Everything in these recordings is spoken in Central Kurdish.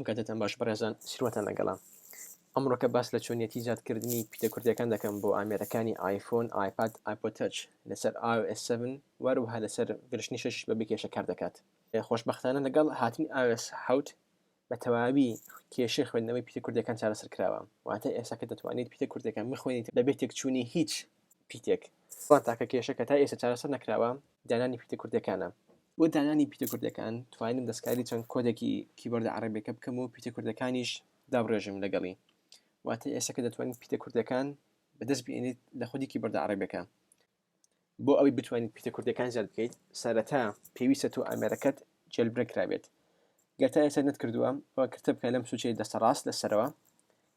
کاتتان باش بەڕێزان سروەتان لەگەڵام ئەمڕۆکە باس لە چۆنیەتی زیادکردنی پیتە کوردەکان دەکەم بۆ ئامێرەکانی آیفۆن آیپاد آیپۆتەچ لەسەر iOS7 وەروها لەسەر گرشتنی شش بە بکێشە کار دەکات خۆشببختانە لەگەڵ هاتنی iOS حوت بە تەواوی کێشەی خوێندنەوەی پیتە کوردییەکان چارەسەر کراوە، واتە ئێستا کە دەتوانیت پیتە کوردییەکان بخوێنیت بەبێ تێکچوونی هیچ پیتێک، بەڵام تاکە کێشە کە تا ئێستا چارەسەر نەکراوە دانانی پیتە کوردییەکانە. بۆ دانانی پیتە کوردییەکان توانیم دەستکاری چەند کۆدێکی کیبۆردە عەڕەبییەکە بکەم و پیتە کوردییەکانیش دابڕێژم لەگەڵی، واتە ئێستا کە دەتوانیت پیتە کوردییەکان بەدەست بهێنیت لە خودی کیبۆردە عەڕەبییەکە، بۆ ئەوەی بتوانیت پیتە کوردەکان زیاد بکەیت سەرەتا پێویستە تۆ ئامێرەکەت جێلبرێک کرابێت گەر تا ئێستا نەتکردووە ئەوە کردە بکە لەم سوچەی دەستە ڕاست لەسەرەوە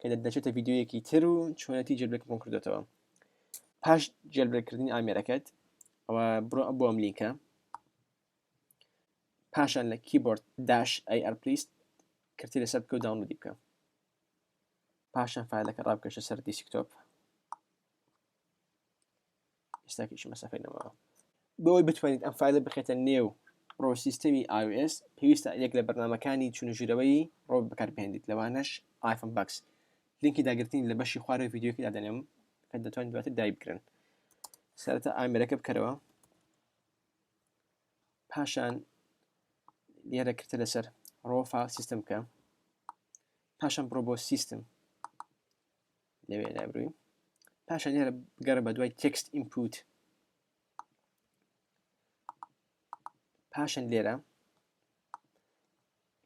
کە دەچێتە ڤیددیویەکی تر و چۆنەتی جێلبرێکەکەم کردێتەوە پاش جێلبرێکردنی ئامێرەکەت ئەوە بڕۆ بۆ ئەم لینکە پاشان لە کیبۆرد داش ئەی ئەرپلیست کردی لەسەر بکە و داونلودی بکە پاشان فایلەکە ڕابکەشە سەر دیسکتۆپ ئێستاکیش مەسەفەی نەماوە بۆی بتوانیت ئەم فایلە بخێتە نێو ڕۆ سیستەمی iOS پێویستە یەک لە بەرنمەکانی چونژیرەوەی ڕۆ بەکاربهێنیت لەوانەش آیفۆن باکس لینکی داگرتنی لە بەشی خوارەوەی ڤیددیوکی دادەنێم کە دەتوانین دواتر دای بکرن سەرەتا ئامرەکە بکەرەوە پاشان لێرە کرتە لەسەر ڕۆفا سیستم بکە پاشان بڕۆ بۆ سیستم لەوێ لابروین پاشە لێرە گەڕە بە دوای تێکست ئینپوت پاشن لێرە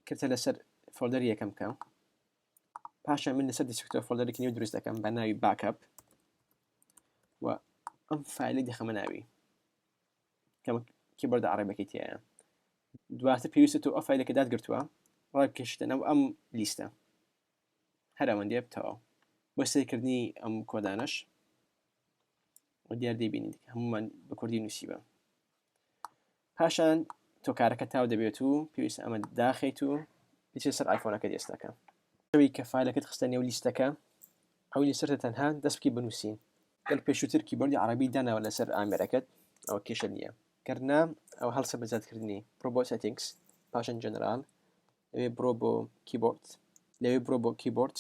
کردە لەسەر فۆلدەر یەکەم بکەم پاشە من لەسەر دیسکتۆ فۆلدەرێکی نێو دروست دەکەم بە ناوی باکەپ و ئەم فایلی دەخەمە ناوی کەم کیبەردە عڕێبەکەی تایە دواتر پێویستە تۆ ئەفایلەکە دادگرتووە ڕای کەشتە نەو ئەم لیستە هەر ئەوەندەیە بتەواو بۆ سیرکردنی ئەم کۆدانەش و دیار دەیبینین هەمومان بە کوردی نووسیوە پاشان تۆ کارەکە تاو دەبێت و پێویست ئەمە داخیت و بچێ سەر ئایفۆنەکە دێستەکە ئەوی کە فالەکەت خستە نێو لیستەکە ئەو لیسەرتە تەنها دەستکی بنووسین گەل پێشووتر کیبۆردی عربی داناوە لەسەر ئامێرەکەت ئەوە کێشە نییە گەرنا ئەو هەڵسە بەزیادکردنی پرۆبۆ سێتینگس پاشان جەنرال لەوێ بڕۆ بۆ کیبۆرد لەوێ بڕۆ بۆ کیبۆرد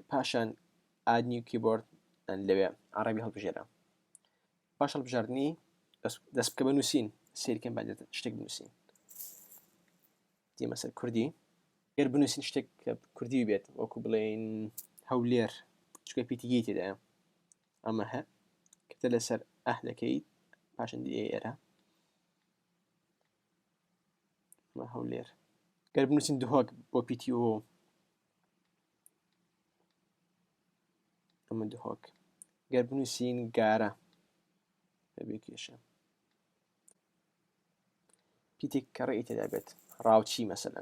پاشان ئادنی کیبۆرد لەوێ عربی هەڵبژێرە پاش هەڵبژاردننی دەست بکە بە نووسین سیرکەم بە شتێک بنووسین دیمە سەر کوردی گەر بنووسین شتێک کە کوردی بێت وەکو بڵێن هەولێر چکە پیتیگی تێدایە ئەمە هە کەتە لەسەر ئەهلەکەی پاشندی ئێرە هەولێر گەر بنووسین دهۆک بۆ پیتی و ئەمە دهۆک گەر بنووسین گارە بەبێ کێشە پیتێک کەڕی تێدا بێت ڕاوچی مەسەن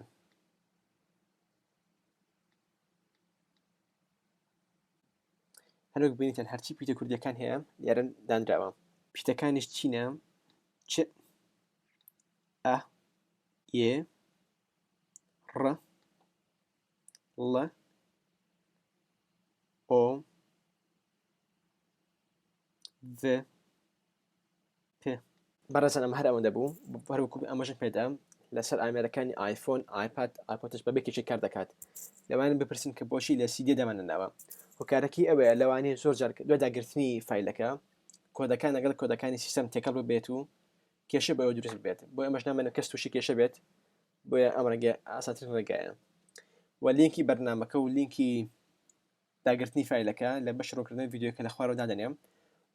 هەروەک بینیتان هەرچی پیتە کوردیەکان هەیە یارن دانراوە پیتەکانیش چینە چ ئە یێ ڕ ڵ ئۆ ڤ پێ. بەڕێزان ئەمە هەر ئەوەندە بوو هەر وەکو ئەمەژن پێدام لەسەر ئامێرەکانی آیفۆن آیپاد آیپۆتش بەبێ کێچی کار دەکات لەوانە بپرسن کە بۆچی لە سیدێ دامانەناوە هۆکارەکەی ئەوەیە لەوانەیە زۆر جار دوای داگرتنی فیلەکە کۆدەکان لەگەڵ کۆدەکانی سیستەم تێکەڵ ببێت و کێشە بەوە دروست بێت بۆ ئەمەش نامێنە کەس تووشی کێشە بێت بۆیە ئەم ڕێگە ئاساتر ڕێگایە و لینکی بەرنمەکە و لینکی داگرتنی فایلەکە لە بەشی ڕوونکردنەوەی ڤیدیۆکە لە خوارەوە دادەنێم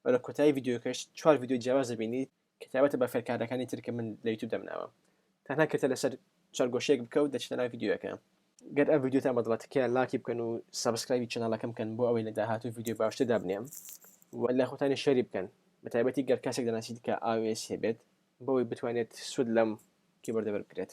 و لە کۆتایی ڤیدیۆکەش چوار ڤیدیۆی جیاواز دەبینیت کە تایبەتە بە فێرکاردەکانی تر کە من لە یوتیوب دەمناوە تەنها کلکە لەسەر چوارگۆشەیەک بکە و دەچیتە ناو ڤیدیۆکە گەر ئەم ڤیدیۆتان بەدڵە تکایە لاکی بکەن و سەبسکرایبی چەناڵەکەم بکەن بۆ ئەوەی لە داهاتوو ڤیدیۆی باشتر دابنێم و لە خۆتانی شەری بکەن بە تایبەتی گەر کەسێک دەناسیت کە ئاوێسی هەبێت بۆی بتوانێت سود لەم کیبۆردە وەربگرێت